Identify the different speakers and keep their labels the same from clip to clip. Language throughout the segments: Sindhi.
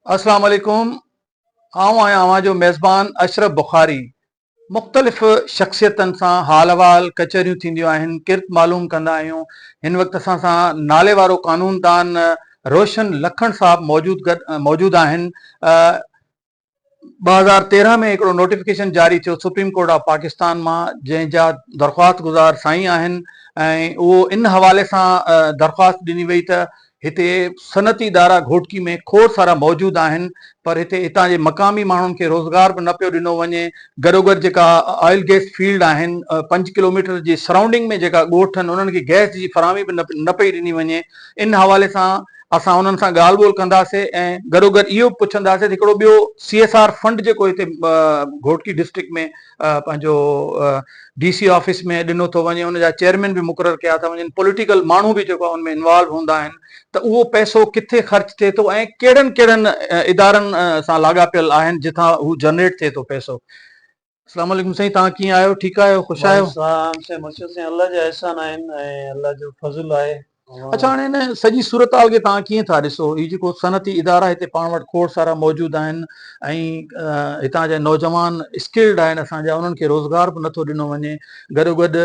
Speaker 1: السلام عليڪم آئون آهيان اوهان جو ميزبان اشرف بخاري مختلف شخصيتن سان حال احوال ڪچهريون ٿينديون آهن ڪرت معلوم ڪندا آهيون هن وقت اسان سان نالي وارو قانوندان روشن لکڻ صاحب موجود موجود آهن ٻه هزار تيرهن ۾ هڪڙو نوٽيفڪيشن جاري ٿيو سپريم ڪورٽ آف پاڪستان مان جنهن جا درخواست گذار سائين آهن ۽ اهو ان حوالي سان درخواست ڏني وئي ته هتي صنعتي ادارا گهوٽڪي ۾ کوڙ سارا موجود آهن پر هتي هتان جي مقامي ماڻهن کي روزگار به نه پيو ڏنو وڃي گڏوگڏ جيڪا آئل گئس فيلڊ آهن پنج ڪلوميٽر جي سرائونڊنگ ۾ جيڪا ڳوٺ آهن انهن کي گئس جي فراهمي به نه پئي ڏني وڃي ان حوالي سان اسان انهن سان ڳالهه ٻولهه ڪنداسي ۽ گڏوگڏ اهو به پڇنداسي ته هڪڙو ٻيو سي ايس آر فنڊ جيڪو هتي گهوٽڪي ڊسٽرڪٽ ۾ پنهنجو ڊي سي آفيس ۾ ڏنو ٿو وڃي ان جا چيئرمين به مقرر ڪيا ٿا وڃن پوليٽيڪل ماڻهو به جيڪو ان ۾ انوالو هوندا آهن ته اهو پئسو ڪٿي خرچ ٿئي ٿو ۽ ڪهڙن ڪهڙن ادارن سان لاڳاپيل آهن جتان هو جنريٽ ٿئي ٿو پئسو اسلام عليڪم سائين توهان ڪيئن آهيو ٺيڪ آهيو خوش آهيو. وعليڪم السلام سائين مرشد سائين الله
Speaker 2: جا احسان آهن ۽ الله جو فضل آهي اوهان. اڇا هاڻي هن
Speaker 1: سڄي صورتحال کي توهان ڪيئن ٿا ڏسو هي جيڪو صنعتي ادارا هتي پاڻ وٽ کوڙ سارا موجود آهن ۽ هتان جا نوجوان اسڪلڊ آهن اسان جا انهن کي روزگار به نٿو ڏنو وڃي گڏوگڏ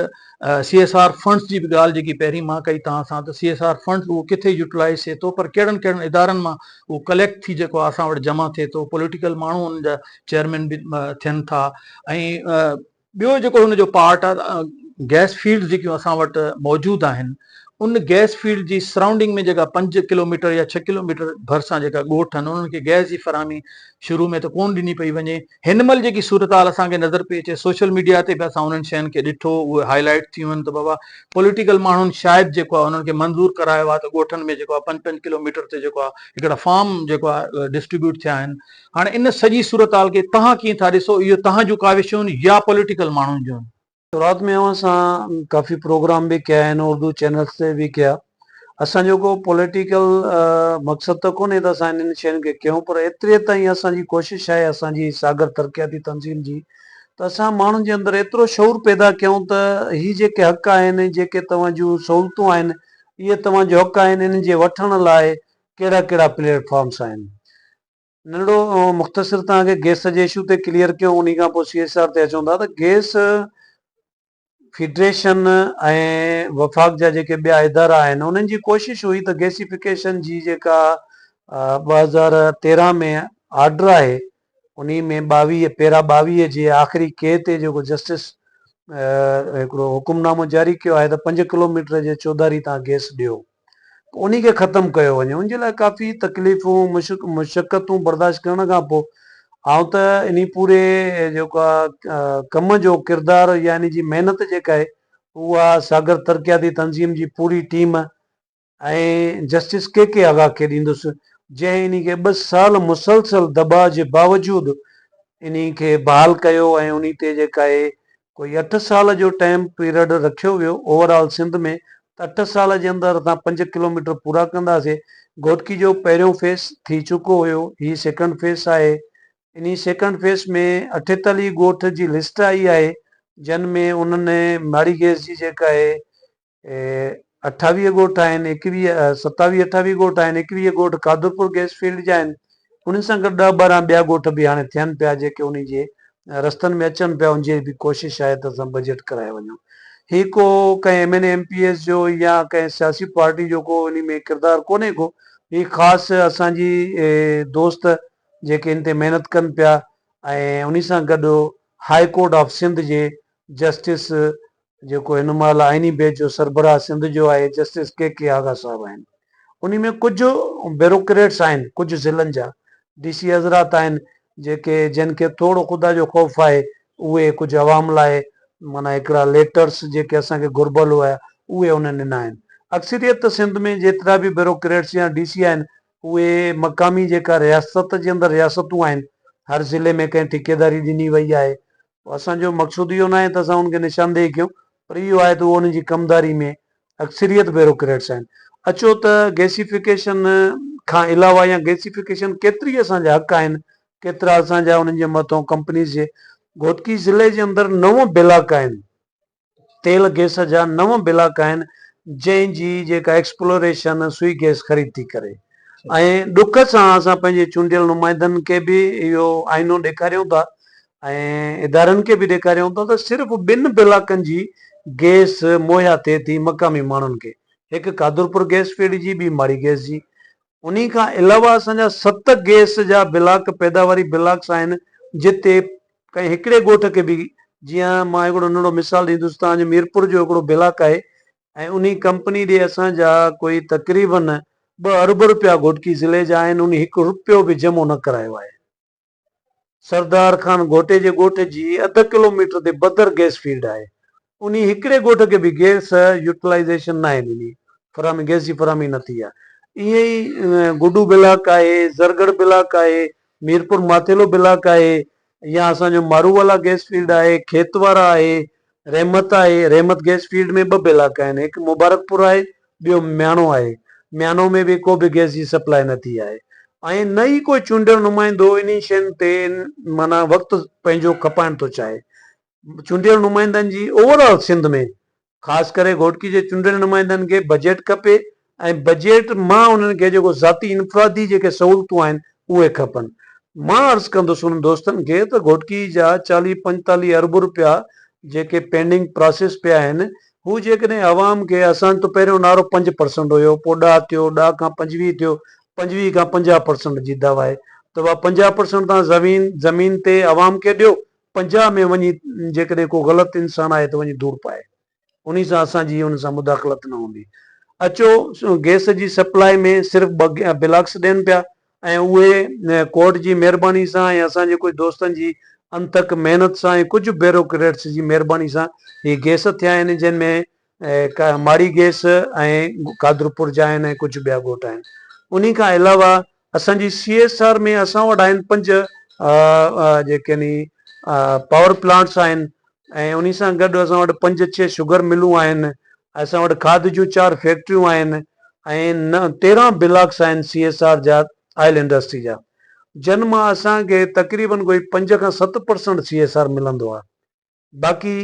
Speaker 1: سي ايس آر فنڊز جي به ڳالهه جيڪي پهرين مان ڪئي توهان سان ته سي ايس آر فنڊز اهو ڪٿي يوٽلائز ٿئي ٿو پر ڪهڙن ڪهڙن ادارن مان اهو ڪليڪٽ ٿي جيڪو اسان وٽ جمع ٿئي ٿو پوليٽيڪل ماڻهو ان جا چيئرمين به ٿين ٿا ۽ ٻيو جيڪو هن جو پارٽ آهي گيس فيلڊ جيڪيون اسان وٽ موجود آهن ان گيس فيلڊ جي سرائونڊنگ ۾ جيڪا پنج ڪلوميٽر يا ڇهه ڪلوميٽر ڀرسان جيڪا ڳوٺ آهن انهن کي گيس جي فراهمي شروع ۾ ته ڪون ڏني پئي وڃي هن مهل جيڪي صورتحال اسان کي نظر پئي اچي سوشل ميڊيا تي به اسان انهن شين کي ڏٺو اهي هائي لائيٽ ٿيون آهن ته بابا پوليٽيڪل ماڻهن شايد جيڪو آهي انهن کي منظور ڪرايو آهي ته ڳوٺن ۾ جيڪو آهي پنج پنج ڪلو ميٽر تي جيڪو آهي هڪڙا فارم جيڪو آهي ڊسٽريبيوٽ ٿيا آهن هاڻي ان سڄي صورتحال کي توهان ڪيئن ٿا ڏسو اهو توهان جون ڪاوشون يا پوليٽيڪل ماڻهن جون شروعات ۾ اوهان
Speaker 2: سان ڪافي پروگرام به ڪيا آهن اردو چينلس تي به ڪيا اسان جو ڪو پوليٽيڪل مقصد ته ڪونهي ته اسان انهن شين کي ڪيون پر ايتري تائين اسان جي ڪوشش آهي اسان جي ساگر ترقياتي تنظيم جي ته اسان ماڻهن جي اندر ايترو شعور پيدا ڪيون ته هي جيڪي حق آهن جيڪي توهان جون سهولتون آهن اهي توهان جو حق آهن انهن جي وٺڻ لاء ڪهڙا ڪهڙا پليٽ فارمس آهن. ننڍڙو مختصر توهان کي گيس جي اشو تي ڪليئر ڪيو انهي کان پوء سي ايس آر تي اچون ٿا ته گيس فيڊريشن ۽ وفاق جا جيڪي ٻيا ادارا آهن انهن جي ڪوشش هئي ته گيسيفڪيشن جي جيڪا ٻه هزار تيرهن ۾ آرڊر آهي انهي ۾ ٻاويهه پيرا ٻاويهه جي آخري ڪي تي جيڪو جسٽس هڪڙو حڪم نامو جاري ڪيو آهي ته پنج ڪلوميٽر جي چوڌاري تان گيس ڏيو ته انهي کي ختم ڪيو وڃي. ان جي لاء ڪافي تڪليفون مشقتون برداشت ڪرڻ کان پوء آئون ته انهي پوري جيڪا ڪم جو ڪردار يا انهي جي محنت جيڪا آهي اها ساگر ترقياتي تنظيم جي پوري team ۽ justice K K Agha کي ڏيندس جنهن انهي کي ٻه سال مسلسل دٻاء جي باوجود انهي کي بحال ڪيو ۽ انهي تي جيڪا آهي ڪوئي اٺ سال جو ٽائيم پيرڊ رکيو ويو اوور آل سنڌ ۾ ته اٺ سال جي اندر اسان پنج ڪلوميٽر پورا ڪنداسي گهوٽڪي جو پهريون فيس ٿي چڪو هيو هي سيڪنڊ فيس آهي انهي سيڪنڊ فيس ۾ اٺيتاليهه ڳوٺ جي لسٽ آئي آهي جن ۾ انهن ماڙي گئس جي جيڪا آهي اٺاويهه ڳوٺ آهن، ايڪويهه، ستاويهه اٺاويهه ڳوٺ آهن، ايڪويهه ڳوٺ قادرپور گئس فيلڊ جا آهن، انهن سان گڏ ڏهه ٻارهن ٻيا ڳوٺ به هاڻي ٿين پيا جيڪي انهي جي رستن ۾ اچن پيا ان جي به ڪوشش آهي ته اسان بجيٽ ڪرائي وڃون. هي ڪو ڪنهن M N A M P S جو يا ڪنهن سياسي پارٽي جو ڪو انهي ۾ ڪردار ڪونهي ڪو هي خاص اسان جي دوست جيڪي ان تي محنت ڪن پيا ۽ انهي سان گڏ هاء ڪورٽ آف سنڌ جي جسٽس جيڪو هن مهل آئيني بينچ جو سربراهه سنڌ جو آهي جسٽس ڪي ڪي آغا صاحب آهن انهي ۾ ڪجهه بيروڪريٽس آهن ڪجهه ضلعن جا ڊي سي حضرات آهن جيڪي جن کي ٿورو خدا جو خوف آهي اهي ڪجهه عوام لاء معنيٰ هڪڙا ليٽرس جيڪي اسان کي گهربل هيا اهي انهن ڏنا آهن اڪثريت ته سنڌ ۾ جيترا به بيروڪريٽس يا ڊي سي آهن اهي مقامي جيڪا رياست جي اندر رياستون آهن هر ضلعي ۾ ڪنهن ٺيڪيداري ڏني وئي آهي اسان جو مقصود اهو ناهي ته اسان انهن کي نشاندهي ڪيون پر اهو آهي ته اهو انهن جي ڪمداري ۾ اڪثريت بيروڪريٽس آهن. اچو ته گيسيفڪيشن کان علاوه يا گيسيفڪيشن ڪيتري اسان جا حق آهن، ڪيترا اسان جا انهن جي مٿون ڪمپنيز جي. گهوٽڪي ضلعي جي اندر نو بلاڪ آهن تيل گيس جا نو بلاڪ آهن جنهن جي جيڪا ايڪسپلوريشن سوئي گيس خريد ٿي ڪري ۽ ڏک سان اسان پنهنجي چونڊيل نمائندن کي به اهو آئينو ڏيکاريون ٿا ۽ ادارن کي به ڏيکاريون ٿا ته صرف ٻن بلاڪن جي گيس مهيا ٿئي ٿي مقامي ماڻهن کي هڪ قادرپور گيس فيلڊ جي ٻي ماڙي گيس جي انهي کان علاوه اسان جا ست گيس جا بلاڪ پيداواري بلاڪس آهن جتي ڪنهن هڪڙي ڳوٺ کي به جيئن مان هڪڙو ننڍڙو مثال ڏيندس تان جو ميرپور جو هڪڙو بلاڪ آهي ۽ انهي ڪمپني ڏي اسان جا ڪوئي تقريباً ٻه ارب رپيا گهوٽڪي ضلعي جا آهن انهي هڪ رپيو به جمع نه ڪرايو آهي سردار خان گهوٽي جي ڳوٺ جي اڌ ڪلو ميٽر تي بدر گئس فيلڊ آهي انهي هڪڙي ڳوٺ کي به گئس يوٽلائيزيشن ناهي ڏني فراهمي گئس جي فراهمي نه ٿي آهي ائين ئي گڊو بلاڪ آهي زرگڙھ بلاڪ آهي ميرپور ماٿيلو بلاڪ آهي يا اسان جو مارووالا گئس فيلڊ آهي کيتوارا آهي رحمت آهي رحمت گئس فيلڊ ۾ ٻه بلاڪ آهن هڪ مبارڪ پور آهي ٻيو مياڻو آهي مياڻو ۾ به ڪو به گئس جي سپلاء نه ٿي آهي ۽ نه ئي ڪو چونڊيل نمائندو انهي شين تي معنيٰ وقت پنهنجو کپائڻ ٿو چاهي چونڊيل نمائندن جي اوور آل سنڌ ۾ خاص ڪري گهوٽڪي جي چونڊيل نمائندن کي بجيٽ کپي ۽ بجيٽ مان انهن کي جيڪو ذاتي انفرادي جيڪي سهولتون آهن اهي کپن مان عرض ڪندس انهن دوستن کي ته گهوٽڪي جا چاليهه پنجتاليهه ارب روپيا جيڪي پينڊنگ پراسيس پيا آهن هو جيڪڏهن عوام کي اسان تو پهريون نعرو پنج پرسنٽ هيو پوء ڏهه ٿيو ڏهه کان پنجويهه ٿيو پنجويهه کان پنجاهه پرسنٽ جي دعويٰ آهي ته اها پنجاهه پرسنٽ توهان زمين زمين تي عوام کي ڏيو پنجاهه ۾ وڃي جيڪڏهن ڪو غلط انسان آهي ته وڃي ڌوڙ پائي انهي سان اسان جي ان سان مداخلت نه هوندي اچو گئس جي سپلائي ۾ صرف ٻه بلاڪس ڏين پيا ۽ اهي ڪورٽ جي مهرباني سان ۽ اسان جي ڪجهه دوستن جي انٿڪ محنت سان ۽ ڪجهه بيروڪريٽس جي مهرباني سان هي گئس ٿيا آهن جن ۾ ماڙي گيس ۽ قادرپور جا آهن ۽ ڪجهه ٻيا ڳوٺ آهن انهي کان علاوه اسان جي سي ايس آر ۾ اسان وٽ آهن پنج جيڪي ني پاور پلانٽس آهن ۽ انهي سان گڏ اسان وٽ پنج ڇهه شگر ملون آهن اسان وٽ کاڌ جون چار فيڪٽريون آهن ۽ تيرهن بلاڪس آهن سي ايس آر جا آئل انڊسٽري جا جن مان اسان کي تقريبن ڪوئي پنج کان ست پرسنٽ سي ايس آر ملندو آهي باقي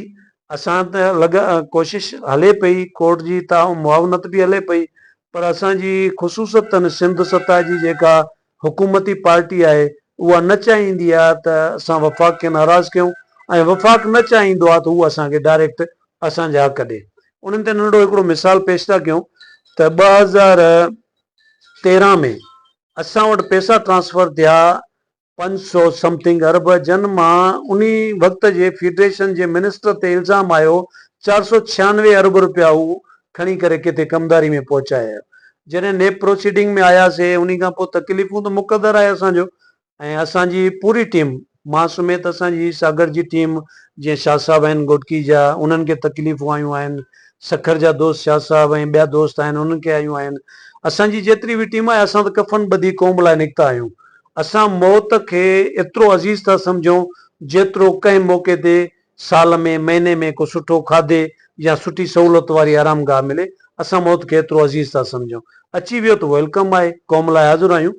Speaker 2: اسان ته لڳ ڪوشش هلي پئي ڪورٽ جي ته معاونت به هلي پئي پر اسان جي خصوصتاً سنڌ سطح جي جيڪا حڪومتي پارٽي آهي اها نه چاهيندي آهي ته اسان وفاق کي ناراض ڪيون ۽ وفاق نه چاهيندو آهي ته هو اسان کي ڊائريڪٽ اسان جا حق ڏي انهن تي ننڍڙو هڪڙو مثال پيش ٿا ڪيون ته ٻه هزار تيرهن ۾ اسان وٽ پيسا ٽرانسفر ٿيا پنج سؤ سمٿنگ ارب جن مان انهي وقت جي فيڊريشن جي منسٽر تي الزام آيو چار سؤ ڇيانوي ارب روپيا هو کڻي ڪري ڪٿي ڪمداري ۾ پهچايا جڏهن نيب پروسيڊنگ ۾ آياسي انهي کان پوء تڪليفون ته مقدر آهي اسان جو ۽ اسان جي پوري ٽيم مان سميت اسان جي ساگرد جي ٽيم جيئن شاهه صاحب آهن گهوٽڪي جا انهن کي تڪليفون آيون آهن سکر جا دوست شاهه صاحب ۽ ٻيا دوست آهن انهن کي آيون آهن اسان جي جيتري به ٽيم آهي اسان ته ڪفن ٻڌي قوم لاء نڪتا آهيون اسان موت کي ايترو عزيز ٿا سمجهون جيترو ڪنهن موقعي تي سال ۾ مهيني ۾ ڪو سٺو کاڌي يا سٺي سهولت واري آرام گاهه ملي اسان موت کي ايترو عزيز ٿا سمجهون اچي ويو ته ويلڪم آهي قوم لاء حاضر آهيون